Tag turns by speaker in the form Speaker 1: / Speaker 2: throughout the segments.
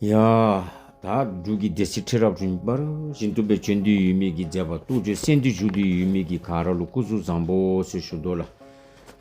Speaker 1: ཡ། དག་འབྲུག་གི་སྡེ་སྲིད་ཁྲི་རབས་བྱོན་པར་བཞིན་གཏུམ་པའི་ཆོས་འདུལ་ཡུལ་མིག་གིས་མཛད་པ་ཏུ་ཅོ་སེང་བདུད་བཞུགས་འདུལ་ཡུལ་མིག་གི་གངས་ར་ལོ་སྐུ་གཟུགས་བཟང་པོ་སོད་བཞུགས་རྡོ་ལ།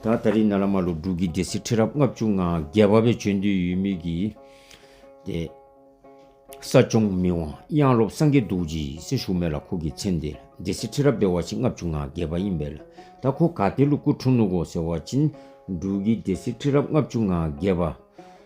Speaker 1: ད་ད་རི་ན་ལ་མ་ལོ་འབྲུག་གི་སྡེ་སྲིད་ཁྲི་རབས་ལྔ་བཅུ་ང་བརྒྱད་བ་པའི་ཆོས་འདུལ་ཡུལ་མིག་གི། ཏེ། ས་སྐྱོང་མི་དབང་གཡང་སློབ་སངས་རྒྱས་རྡོ་རྗེ་ཡིས་སྲི་ཞུ་མེད་ལ་ཁོ་གི་མཚན་དེ་སྡེ་སྲིད་ཁྲི་རབས་པའི་བ་ཕྱི་ལྔ་བཅུ་ང་བརྒྱད་པ་ཡིན་པས་ལ་ད་ཁོ་ག་དེ་ལོ་སྐུ་འཁྲུངས་ནུ་གོ་ཟེར་བ་བྱིན་འབྲུག་གི་སྡེ་སྲིད་ཁྲི་རབས་ལྔ་བཅུ་ང་བརྒྱད་བ།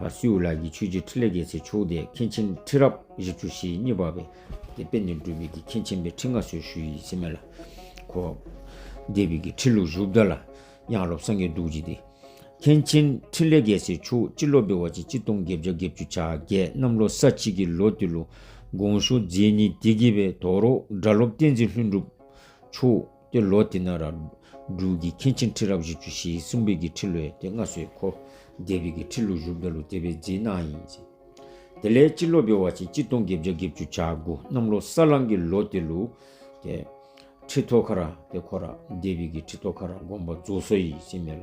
Speaker 1: ལ་སུའུ་ལགས་ཀྱིས་ཆོས་རྗེ་ཁྲི་ལས་རྒྱལ་སྲས་མཆོག་ལྡན་མཁན་ཆེན་ཁྲི་རབས་བཞི་བཅུ་ཞེ་གཉིས་པ་བས་ཀྱི་དཔེ་འདི་འབྲུ་བིག་གི་མཁན་ཆེན་པའི་ཁྲི་མཁའ་སུ་ཞུ་ཡིས་ཚིམས་མེད་ལ་གོ། འདི་བིག་གི་ཁྲི་ལུགས་བཞུགས་བདག་ལ་གཡང་སློབ་སངས་རྒྱས་གདུགས་བྱེད་དེ། མཁན་ཆེན་ཁྲི་ལས་རྒྱལ་སྲས་མཆོག་སྤྱི་ལོ་པའི་བ་ཅི་སྤྱི་སྟོང་བརྒྱད་བརྒྱ་བརྒྱད་བཅུ་ཆ་བརྒྱད་གནམ་ལོ་ས་གཅིག་གི་ལོ་དེ་ལུགས་དགོངས་ཞུ་མཛད་ཉིན་དེ་དགེ་བའི་དོ་རོག་སྒྲ་སློབ་བསྟན་འཛིན་ལྷུན་གྲུབ་མཆོག་ཏེ་ལོ་དེ་ན་ར་འབྲུག་གི་མཁན་ཆེན་ཁྲི་རབས་བཞི་བཅུ་ཞེ་གསུམ་པའི་གི་ཁྲི་ལོའི་ཏེ་སྔ་སོའི་ཁོ་རྒྱལ་བོད་ཀྱི་ཁྲི་ལོ་བཞུགས་བདག་ལོ་དེ་བའི་རྗེས་གནང་ཡིན། དེ་ལས་སྤྱི་ལོ་པའི་བ་ཆེན་སྤྱི་སྟོང་བརྒྱད་བརྒྱ་བརྒྱད་བཅུ་ཆ་དགུ་གནམ་ལོ་ས་གླང་གི་ལོ་དེ་ལུ་ཏེ་ཁྲི་ཐོ་ཁ་ར་ཏེ་ཁོ་ར་རྒྱལ་བོད་ཀྱི་ཁྲི་ཐོ་ཁ་ར་དགོངས་པ་རྫོགས་སོ་ཡིས་ཅི་སྨྲས་ལ།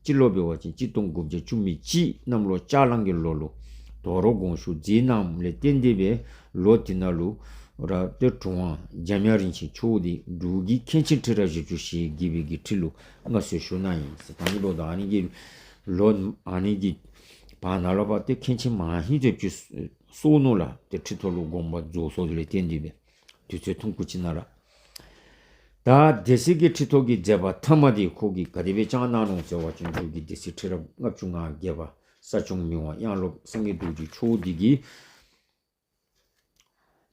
Speaker 1: སྤྱི་སློབ་པའི་བ་ཅན་སྤྱི་སྟོང་དགུ་བརྒྱ་བཅུ་མི་གཅིག་རྣམས་ལོ་ལྕགས་གླང་གི་ལོ་ལུགས། དོ་རོ་དགོངས་ཞུགས་འཛིན་རྣམས་ལས་གཏེར་འདེབས་པའི་ལོ་དེ་ན་ལུགས། ར་གཏེར་གྲུབ་དབང་འཇམ་དབྱངས་རིན་ཆེན་ཆོས་འདི་འབྲུག་གི་མཁན་ཆེན་ཁྲི་རལ་བཞི་བཅུ་ཞེས་བགྱི་བའི་དགེ་ཁྲི་ལུགས་སྔ་སྲོལ་ཞུ་ན་ཡིན། ཟེར་དང་ཡེ་ལོ་དང་ཨ་ནེ་ཀེ་ལོ། ཨ་ནེ་ཀེ། བར་ན་ལོ་བ་སྟེ་མཁན་ཆེན་མ་ཧེ་མཛོད་ཀྱི་སྲོག་བསྣོལ་ལ་གཏེར་ཁྲི་ཐོ་ལུགས་དགོངས་པ་རྫོགས་སོགས་ལས་གཏེར་འདེབས་པའི། དུས་ཚོད་ཐུང་ཁུ་ཅི་ན་ར། ད་སྡེ་སྲིད་ཀྱི་ཁྲི་ཐོག་གི་མཛད་པ་ཐ་མ་དེ་ཁོག་གི་ག་དེ་བས་ཅང་གནང་རུང་ཟེར་བ་བྱང་ཆུབ་ཀྱི་སྡེ་སྲིད་ཁྲི་རབས་ལྔ་བཅུ་ང་བརྒྱད་པ་ས་སྐྱོང་མི་དབང་གཡང་སློབ་བསམ་ཡས་དུག་གི་ཆུ་བོ་འདི་གིས།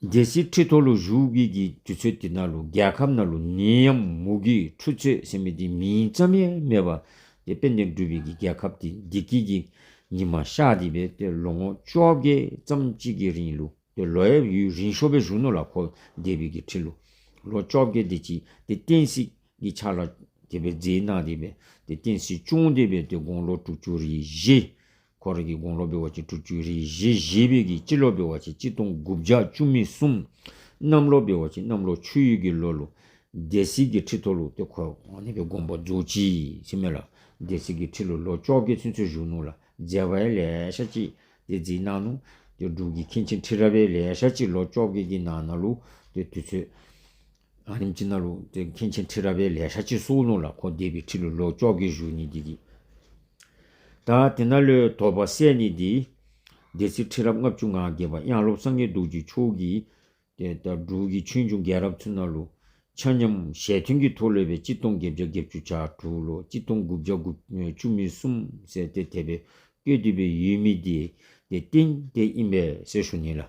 Speaker 1: སྡེ་སྲིད་ཁྲི་ཐོག་ལུ་གཞུག་གི་གི་དུས་ཚོད་དེ་ན་ལུ་རྒྱལ་ཁབ་ན་ལུ་ནི་ཡམ་མུ་གི་ཁྲུ་ཚོད་ཟེར་མི་དེ་མིང་ཙམ་ཡས་སྨྲས་པ་དེ་དཔལ་ལྡན་སྤྲུལ་བའི་གི་རྒྱལ་ཁབ་དེ་འདི་གི་གི་ཉི་མ་ཤག་དེ་བས་ཏེ་ལོ་ངོ་བཅོ་བརྒྱད་ཙམ་གཅིག་གི་རིང་ལུ། པའི་ལོ་ཡབ་ཡུལ་རིན་ཤོ་པའི་གཞོན་ནུ་ལ་འཁོར་འདས་བོད་ཀྱི་ཁྲི་ལོ་ལོ་བཅོ་བརྒྱད་དེ་གཅིག་དེ་བསྟན་སྲིད་ཀྱི་ཆ་ལ་དེ་བས་རྫས་གནང་དེ་བས་དེ་བསྟན་སྲིད་སྐྱོང་དེ་བས་དེ་དགུང་ལོ་དྲུག་ཅུ་རེ་བཞི། ཁོ་རང་གི་དགུང་ལོ་བོད་བར་གྱི་དྲུག་ཅུ་རེ་བཞི་བཞི་བོད་ཀྱི་སྤྱི་ལོ་བོད་བར་གྱི་སྤྱི་སྟོང་དགུ་བརྒྱ་བཅུ་མི་གསུམ། གནམ་ལོ་བོད་བར་གྱི་གནམ་ལོ་ཆུ་ཡུལ་གྱི་ལོ་ལོ། སྡེ་སྲིད་ཀྱི་ཁྲི་ཐོ་ལུགས་དེ་ཁོ་རང་ནས་པའི་དགོངས་པ་རྫོགས་ཀྱིས་ཕྱི་མེ་ལ་སྡེ་སྲིད་ཀྱི་ཁྲི་ལོ་ལོ་བཅོ་བརྒྱད་ཚུན་ཆོད་གཞོན་ནུ་ལ་མཛད་པའི་ལས་ཤག་ཅིག་དེ་རྗེས་གནང་ནོ། དེ་སྒྲུབ་ཀྱི་མཁན་ཆེན་ཁྲི་རལ་པའི་ལས་ཞག་གཅིག་ལོ་ཅོག་གེ་ཀི་ན་ན་ལུག་དེ་དུས་ཚོད། ཨ་རིམ་ཅི་ན་ལུག་དེ་མཁན་ཆེན་ཁྲི་རལ་པའི་ལས་ཞག་གཅིག་སུའུ་ལུང་ལ་ཁོ་འདས་པའི་ཁྲི་ལོ་ལོ་ཅོག་གེ་བཞུགས་ནི་དེ་གི། ད་དེ་ན་ལོའི་དོ་པ་སད་ནི་དེའི། སྡེ་སྲིད་ཁྲི་རབས་ལྔ་བཅུ་ང་གེ་པ་དབྱངས་སློབ་སངས་རྒྱས་གདུགས་ཀྱི་ཆོས་ཀི། དེ་ལྟར་འབྲུག་གི་ཆོས་འབྱུང་རྒྱལ་རབས་ཚུན་ན་ལོ། ཆ་མཉམ། ཞལ་མཐུན་གྱི་ཐོ་ལོས་པའི་སྤྱི་སྟོང་བརྒྱད་བརྒྱ་བརྒྱད་བཅུ་ཆ་དྲུག་ལོ་སྤྱི་སྟོང་དགུ་བརྒྱ་དགུ་བཅུ་མུས་གསུམ་ཟེར་ཏེ་དད་པའི་སྐྱོད་འདུས་པའི་ཡུལ་མི་འདི་དེ་སྟེང་དེ་ཨིན་པའི་སེར་ཤུ་ནི་ལ།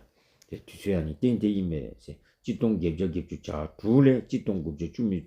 Speaker 1: དེ་དུས་ཚོད་ཡང་ནི་སྟེང་དེ་ཨིན་པའི་སེར་སྤྱི་སྟོང་བརྒྱད་བརྒྱ་བརྒྱད་བཅུ་ཆ་དྲུག་ལས་སྤྱི་སྟོང་དགུ་བརྒྱ་བཅུ་མུས།